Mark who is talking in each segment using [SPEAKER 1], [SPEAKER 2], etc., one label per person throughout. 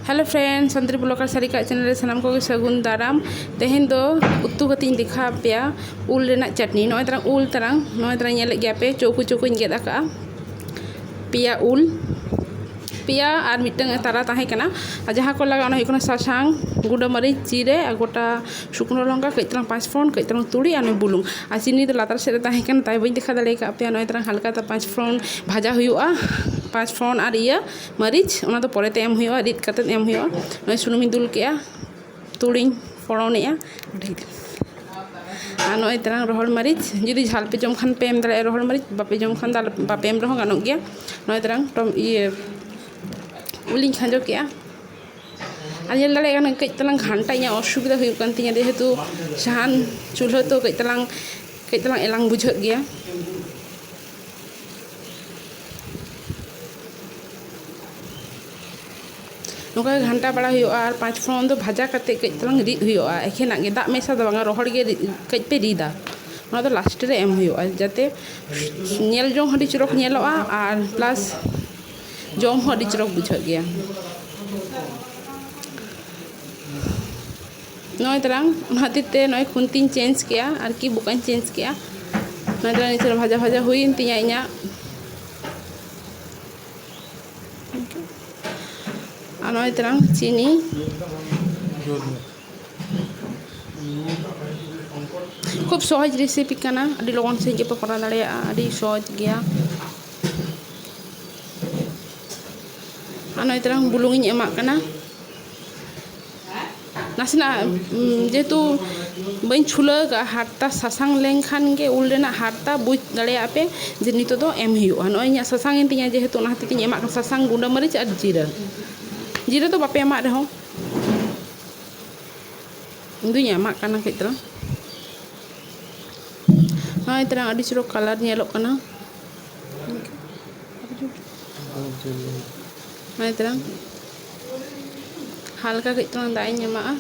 [SPEAKER 1] hello friend Santali blogger Sarika channel ᱨᱮ ᱥᱟᱱᱟᱢ ᱠᱚᱜᱮ ᱥᱟᱹᱜᱩᱱ ᱫᱟᱨᱟᱢ ᱛᱮᱦᱮᱧ ᱫᱚ ᱩᱛᱩ ᱠᱟᱛᱮ ᱤᱧ ᱫᱮᱠᱷᱟᱣ ᱯᱮᱭᱟ ᱩᱞ ᱨᱮᱱᱟᱜ ᱪᱟᱴᱱᱤ ᱱᱚᱜᱼᱚᱭ ᱛᱟᱨᱟᱝ ᱩᱞ ᱛᱟᱨᱟᱝ ᱱᱚᱜᱼᱚᱭ ᱛᱟᱨᱟᱝ ᱧᱮᱞᱮᱫ ᱜᱮᱭᱟ ᱯᱮ ᱪᱳᱠᱳ ᱪᱳᱠᱳᱧ ᱜᱮᱫ ᱟᱠᱟᱜᱼᱟ ᱯᱮᱭᱟ ᱩᱞ ᱯᱮᱭᱟ ᱟᱨ ᱢᱤᱫᱴᱟᱝ ᱛᱟᱨᱟ ᱛᱟᱦᱮᱸ ᱠᱟᱱᱟ ᱟᱨ ᱡᱟᱦᱟᱸ ᱠᱚ ᱞᱟᱜᱟᱜᱼᱟ ᱚᱱᱟ ᱦᱩᱭᱩᱜ ᱠᱟᱱᱟ ᱥᱟᱥᱟᱝ ᱜᱩᱸᱰᱟᱹ ᱢᱟᱹᱨᱤᱪ ᱡᱤᱨᱟᱹ ᱟᱨ ᱜᱳᱴᱟ ᱥᱩᱠᱱᱳ ᱞᱚᱝᱠᱟ ᱠᱟᱹᱡ ᱛᱟᱞᱟᱝ ᱯᱟᱸᱪ ᱯᱷᱚᱲᱚᱱ ᱠᱟᱹᱡ ᱛᱟᱞᱟᱝ ᱛᱩᱲᱤ ᱟᱨ ᱱᱚᱣᱟ ᱵᱩᱞᱩᱝ ᱟᱨ ᱪᱤᱱᱤ ᱫᱚ ᱞᱟᱛᱟᱨ ᱥᱮᱫ ᱨᱮ ᱛᱟᱦᱮᱸ ᱠᱟᱱᱟ ᱛᱟᱭ ᱵᱟᱹᱧ ᱫᱮᱠᱷᱟᱣ ᱫᱟᱲᱮ ᱠᱟᱜ ᱯᱮᱭᱟ ᱱᱚᱜᱼᱚᱭ ᱛᱟᱞᱟᱝ ᱦᱟᱞᱠᱟ ᱯᱟᱸᱪ ᱯᱷᱚᱲᱚᱱ ᱵᱷᱟᱡᱟ ᱦᱩᱭᱩᱜᱼᱟ ᱯᱟᱸᱪ ᱯᱷᱚᱲᱚᱱ ᱟᱨ ᱤᱭᱟᱹ ᱢᱟᱹᱨᱤᱪ ᱚᱱᱟ ᱫᱚ ᱯᱚᱨᱮᱛᱮ ᱮᱢ ᱦᱩᱭᱩᱜᱼᱟ ᱨᱤᱫ ᱠᱟᱛᱮ ᱮᱢ ᱦᱩᱭᱩᱜᱼᱟ ᱱᱚᱜᱼᱚᱭ ᱥᱩᱱᱩᱢᱤᱧ ᱫᱩᱞ ᱠᱮᱜᱼᱟ ᱛᱩᱲᱤᱧ ᱯᱷᱚᱲᱚᱱ ᱮᱜᱼᱟ ᱟᱨ ᱱᱚᱜᱼᱚᱭ ᱛᱟᱞᱟᱝ ᱨᱚᱦᱚᱲ ᱢᱟᱹᱨᱤᱪ ᱡᱩᱫᱤ ᱡᱷᱟᱞ ᱯᱮ ᱡᱚᱢ ᱠᱷᱟᱱ ᱯᱮ ᱮᱢ ᱫᱟᱲᱮᱭᱟᱜᱼᱟ ᱨᱚᱦᱚᱲ ᱢᱟᱹᱨᱤᱪ ᱵᱟᱯᱮ ᱡᱚᱢ ᱠᱷᱟᱱ ᱫᱚ ᱵᱟᱯᱮ ᱮᱢ ᱨᱮᱦᱚᱸ ᱜᱟᱱᱚᱜ ᱜᱮᱭᱟ ᱱᱚᱜᱼᱚᱭ ᱛᱟᱞᱟᱝ ᱤᱭᱟᱹ ᱩᱞᱤᱧ ᱠᱷᱟᱸᱡᱚ ᱠᱮᱜᱼᱟ ᱟᱨ ᱧᱮᱞ ᱫᱟᱲᱮᱭᱟᱜ ᱠᱟᱱᱟᱹᱧ ᱠᱟᱹᱡ ᱛᱟᱞᱟᱝ ᱜᱷᱟᱱᱴᱟ ᱤᱧᱟᱹᱜ ᱚᱥᱩᱵᱤᱫᱷᱟ ᱦᱩᱭᱩᱜ ᱠᱟᱱ ᱛᱤᱧᱟᱹ ᱡᱮᱦᱮᱛᱩ ᱥᱟᱦᱟᱱ ᱪᱩᱞᱦᱟᱹ ᱛᱚ ᱠᱟᱹᱡ ᱛᱟᱞᱟᱝ ᱠᱟᱹᱡ ᱛᱟᱞᱟᱝ ᱮᱞᱟᱝ ᱵᱩᱡᱷᱟᱹᱜ ᱜᱮᱭᱟ ᱱᱚᱝᱠᱟ ᱜᱮ ᱜᱷᱟᱱᱴᱟ ᱵᱟᱲᱟ ᱦᱩᱭᱩᱜᱼᱟ ᱟᱨ ᱯᱟᱸᱪ ᱯᱷᱚᱲᱚᱱ ᱫᱚ ᱵᱷᱟᱡᱟ ᱠᱟᱛᱮ ᱠᱟᱹᱡ ᱛᱟᱞᱟᱝ ᱨᱤᱫ ᱦᱩᱭᱩᱜᱼᱟ ᱮᱠᱷᱮᱱᱟᱜ ᱜᱮ ᱫᱟᱜ ᱢᱮᱥᱟ ᱫᱚ ᱵᱟᱝᱟ ᱨᱚᱦᱚᱲ ᱜᱮ ᱠᱟᱹᱡ ᱯᱮ ᱨᱤᱫᱟ ᱚᱱᱟ ᱫᱚ ᱞᱟᱥᱴᱮ ᱨᱮ ᱮᱢ ᱦᱩᱭᱩᱜᱼᱟ ᱡᱟᱛᱮ ᱧᱮᱞ ᱡᱚᱝ ᱦᱚᱸ ᱟᱹᱰᱤ ᱪᱚᱨᱚᱠ ᱧᱮᱞᱚᱜᱼᱟ ᱟᱨ ᱯᱞᱟᱥ ᱡᱚᱢ ᱦᱚᱸ ᱟᱹᱰᱤ ᱪᱚᱨᱚᱠ ᱵᱩᱡᱷᱟᱹᱜ ᱜᱮᱭᱟ ᱱᱚᱜᱼᱚᱭ ᱛᱟᱨᱟᱝ ᱚᱱᱟ ᱠᱷᱟᱹᱛᱤᱨ ᱛᱮ ᱱᱚᱜᱼᱚᱭ ᱠᱷᱩᱱᱛᱤᱧ ᱪᱮᱧᱡᱽ ᱠᱮᱜᱼᱟ ᱟᱨᱠᱤ ᱵᱚᱠᱟᱧ ᱪᱮᱧᱡᱽ ᱠᱮᱜᱼᱟ ᱱᱚᱜᱼᱚᱭ ᱛᱟᱨᱟᱝ ᱱᱤᱛᱚᱜ ᱵᱷᱟᱡᱟ ᱵᱷᱟᱡᱟ ᱦᱩᱭᱮᱱ ᱛᱤᱧᱟᱹ ᱤᱧᱟᱹᱜ ᱟᱨ ᱱᱚᱜᱼᱚᱭ ᱛᱟᱨᱟᱝ ᱪᱤᱱᱤ ᱠᱷᱩᱵ ᱥᱚᱦᱚᱡᱽ ᱨᱮᱥᱤᱯᱤ ᱠᱟᱱᱟ ᱟᱹᱰᱤ ᱞᱚᱜᱚᱱ ᱥᱟᱺᱦᱤᱡ ᱜᱮᱯᱮ ᱠᱚᱨᱟᱣ ᱫᱟᱲᱮᱭᱟᱜᱼᱟ ᱟᱹᱰᱤ ᱥᱚᱦᱚᱡᱽ ᱜᱮᱭᱟ ᱟᱨ ᱱᱚᱜᱼᱚᱭ ᱛᱟᱞᱟᱝ ᱵᱩᱞᱩᱝ ᱤᱧ ᱮᱢᱟᱜ ᱠᱟᱱᱟ ᱱᱟᱥᱮᱱᱟᱜ ᱡᱮᱦᱮᱛᱩ ᱵᱟᱹᱧ ᱪᱷᱩᱞᱟᱹᱣ ᱠᱟᱜᱼᱟ ᱦᱟᱨᱛᱟ ᱥᱟᱥᱟᱝ ᱞᱮᱱᱠᱷᱟᱱ ᱜᱮ ᱩᱞ ᱨᱮᱱᱟᱜ ᱦᱟᱨᱛᱟ ᱵᱩᱡᱽ ᱫᱟᱲᱮᱭᱟᱜᱼᱟ ᱯᱮ ᱡᱮ ᱱᱤᱛᱚᱜ ᱫᱚ ᱮᱢ ᱦᱩᱭᱩᱜᱼᱟ ᱱᱚᱜᱼᱚᱭ ᱤᱧᱟᱹᱜ ᱥᱟᱥᱟᱝ ᱮᱱ ᱛᱤᱧᱟᱹ ᱡᱮᱦᱮᱛᱩ ᱚᱱᱟ ᱦᱚᱛᱮᱡ ᱛᱤᱧ ᱮᱢᱟᱜ ᱠᱟᱱᱟ ᱥᱟᱥᱟᱝ ᱜᱩᱰᱟᱹ ᱢᱟᱹᱨᱤᱪ ᱟᱨ ᱡᱤᱨᱟᱹ ᱡᱤᱨᱟᱹ ᱫᱚ ᱵᱟᱯᱮ ᱮᱢᱟᱜ ᱨᱮᱦᱚᱸ ᱤᱧ ᱫᱩᱧ ᱮᱢᱟᱜ ᱠᱟᱱᱟ ᱠᱟᱹᱡ ᱛᱟᱞᱟᱝ ᱱᱚᱜᱼᱚᱭ ᱛᱟᱞᱟᱝ ᱟᱹᱰᱤ ᱪᱚᱨᱚᱠ ᱠᱟᱞᱟᱨ ᱧᱮᱞᱚᱜ ᱠᱟᱱᱟ ᱢᱟᱱᱮ ᱛᱟᱨᱟᱝ ᱦᱟᱞᱠᱟ ᱠᱟᱹᱡ ᱛᱟᱨᱟᱝ ᱫᱟᱜ ᱤᱧ ᱮᱢᱟᱜᱼᱟ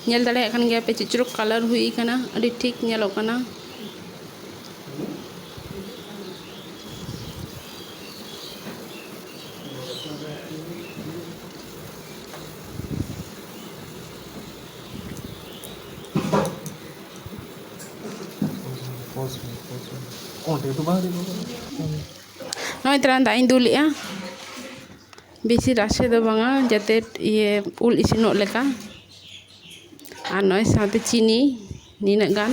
[SPEAKER 1] ᱧᱮᱞ ᱫᱟᱲᱮᱭᱟᱜ ᱠᱟᱱ ᱜᱮᱭᱟ ᱯᱮ ᱪᱮᱫ ᱪᱚᱨᱚᱠ ᱠᱟᱞᱟᱨ ᱦᱩᱭ ᱟᱠᱟᱱᱟ ᱟᱹᱰᱤ ᱴᱷᱤᱠ ᱧᱮᱞᱚᱜ ᱠᱟᱱᱟ ᱱᱚᱜᱼᱚᱭ ᱛᱟᱞᱟᱝ ᱫᱟᱜ ᱤᱧ ᱫᱩᱞᱮᱜᱼᱟ ᱵᱮᱥᱤ ᱨᱟᱥᱮ ᱫᱚ ᱵᱟᱝᱟ ᱡᱟᱛᱮ ᱤᱭᱟᱹ ᱩᱞ ᱤᱥᱤᱱᱚᱜ ᱞᱮᱠᱟ ᱟᱨ ᱱᱚᱜᱼᱚᱭ ᱥᱟᱶᱛᱮ ᱪᱤᱱᱤ ᱱᱤᱱᱟᱹᱜ ᱜᱟᱱ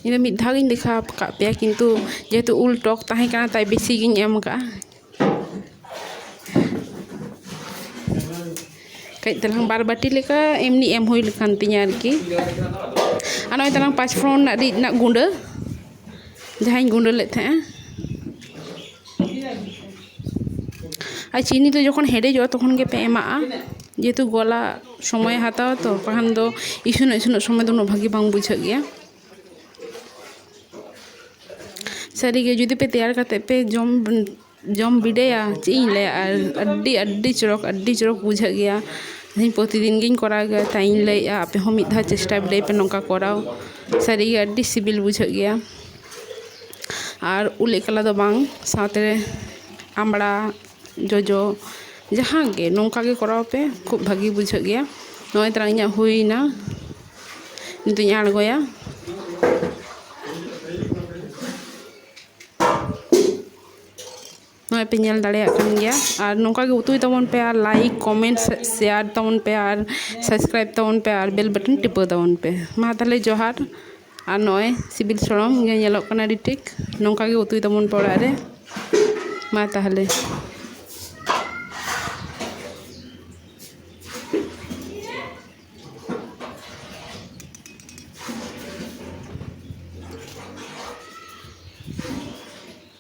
[SPEAKER 1] ᱤᱧ ᱫᱚ ᱢᱤᱫ ᱫᱷᱟᱣ ᱜᱤᱧ ᱫᱮᱠᱷᱟᱣ ᱠᱟᱜ ᱯᱮᱭᱟ ᱠᱤᱱᱛᱩ ᱡᱮᱦᱮᱛᱩ ᱩᱞ ᱴᱚᱠ ᱛᱟᱦᱮᱸ ᱠᱟᱱᱟ ᱛᱟᱭ ᱵᱮᱥᱤ ᱜᱤᱧ ᱮᱢ ᱠᱟᱜᱼᱟ ᱠᱟᱹᱡ ᱛᱟᱞᱟᱝ ᱵᱟᱨ ᱵᱟᱹᱴᱤ ᱞᱮᱠᱟ ᱮᱢᱱᱤ ᱮᱢ ᱦᱩᱭ ᱠᱟᱱ ᱛᱤᱧᱟᱹ ᱟᱨᱠᱤ ᱟᱨ ᱱᱚᱜᱼᱚᱭ ᱛᱟᱞᱟᱝ ᱯᱟᱸᱪ ᱯᱷᱚᱲᱚᱱ ᱨᱮᱱᱟᱜ ᱨᱤᱫ ᱨᱮᱱᱟᱜ ᱜᱩᱰᱟᱹ ᱡᱟᱦᱟᱸᱧ ᱜᱩᱰᱟᱹ ᱞᱮᱜ ᱛᱟᱦᱮᱸᱜᱼᱟ ᱟᱨ ᱪᱤᱱᱤ ᱫᱚ ᱡᱚᱠᱷᱚᱱ ᱦᱮᱰᱮᱡᱚᱜᱼᱟ ᱛᱚᱠᱷᱚᱱ ᱜᱮᱯᱮ ᱮᱢᱟᱜᱼᱟ ᱡᱮᱦᱮᱛᱩ ᱜᱚᱞᱟᱜ ᱥᱚᱢᱚᱭᱮ ᱦᱟᱛᱟᱣᱟ ᱛᱚ ᱵᱟᱠᱷᱟᱱ ᱫᱚ ᱤᱥᱤᱱᱚᱜ ᱤᱥᱤᱱᱚᱜ ᱥᱚᱢᱚᱭ ᱫᱚ ᱩᱱᱟᱹᱜ ᱵᱷᱟᱹᱜᱤ ᱵᱟᱝ ᱵᱩᱡᱷᱟᱹᱜ ᱜᱮᱭᱟ ᱥᱟᱹᱨᱤᱜᱮ ᱡᱩᱫᱤ ᱯᱮ ᱛᱮᱭᱟᱨ ᱠᱟᱛᱮ ᱯᱮ ᱡᱚᱢ ᱡᱚᱢ ᱵᱤᱰᱟᱹᱣᱟ ᱪᱮᱫ ᱤᱧ ᱞᱟᱹᱭᱟ ᱟᱨ ᱟᱹᱰᱤ ᱟᱹᱰᱤ ᱪᱚᱨᱚᱠ ᱟᱹᱰᱤ ᱪᱚᱨᱚᱠ ᱵᱩᱡᱷᱟᱹᱜ ᱜᱮᱭᱟ ᱤᱧ ᱯᱨᱚᱛᱤᱫᱤᱱ ᱜᱮᱧ ᱠᱚᱨᱟᱣ ᱜᱮᱭᱟ ᱛᱟᱭ ᱤᱧ ᱞᱟᱹᱭᱮᱜᱼᱟ ᱟᱯᱮ ᱦᱚᱸ ᱢᱤᱫ ᱫᱷᱟᱣ ᱪᱮᱥᱴᱟ ᱵᱤᱰᱟᱹᱣ ᱯᱮ ᱱᱚᱝᱠᱟ ᱠᱚᱨᱟᱣ ᱥᱟᱹᱨᱤᱜᱮ ᱟᱹᱰᱤ ᱥᱤᱵᱤᱞ ᱵᱩᱡᱷᱟᱹᱜ ᱜᱮᱭᱟ ᱟᱨ ᱩᱞ ᱮᱠᱞᱟ ᱫᱚ ᱵᱟᱝ ᱥᱟᱶᱛᱮ ᱟᱢᱲᱟ ᱡᱚᱡᱚ ᱡᱟᱦᱟᱸ ᱜᱮ ᱱᱚᱝᱠᱟ ᱜᱮ ᱠᱚᱨᱟᱣ ᱯᱮ ᱠᱷᱩᱵ ᱵᱷᱟᱹᱜᱤ ᱵᱩᱡᱷᱟᱹᱜ ᱜᱮᱭᱟ ᱱᱚᱜᱼᱚᱭ ᱛᱚᱨᱟ ᱤᱧᱟᱹᱜ ᱦᱩᱭᱱᱟ ᱱᱤᱛᱚᱜ ᱤᱧ ᱟᱬᱜᱚᱭᱟ ᱱᱚᱜᱼᱚᱭ ᱯᱮ ᱧᱮᱞ ᱫᱟᱲᱮᱭᱟᱜ ᱠᱟᱱ ᱜᱮᱭᱟ ᱟᱨ ᱱᱚᱝᱠᱟ ᱜᱮ ᱩᱛᱩᱭ ᱛᱟᱵᱚᱱ ᱯᱮ ᱟᱨ ᱞᱟᱭᱤᱠ ᱠᱚᱢᱮᱱᱴ ᱥᱮᱭᱟᱨ ᱛᱟᱵᱚᱱ ᱯᱮ ᱟᱨ ᱥᱟᱵᱥᱠᱨᱟᱭᱤᱵᱽ ᱛᱟᱵᱚᱱ ᱯᱮ ᱟᱨ ᱵᱮᱞ ᱵᱟᱴᱚᱱ ᱴᱤᱯᱟᱹᱣ ᱛᱟᱵᱚᱱ ᱯᱮ ᱢᱟ ᱛᱟᱦᱚᱞᱮ ᱡᱚᱦᱟᱨ ᱟᱨ ᱱᱚᱜᱼᱚᱭ ᱥᱤᱵᱤᱞ ᱥᱚᱲᱚᱢ ᱜᱮ ᱧᱮᱞᱚᱜ ᱠᱟᱱᱟ ᱟᱹᱰᱤ ᱴᱷᱤᱠ ᱱᱚᱝᱠᱟ ᱜᱮ ᱩᱛᱩᱭ ᱛᱟᱵᱚᱱ ᱯᱮ ᱚᱲᱟᱜ ᱨᱮ ᱢᱟ ᱛᱟᱦᱚᱞᱮ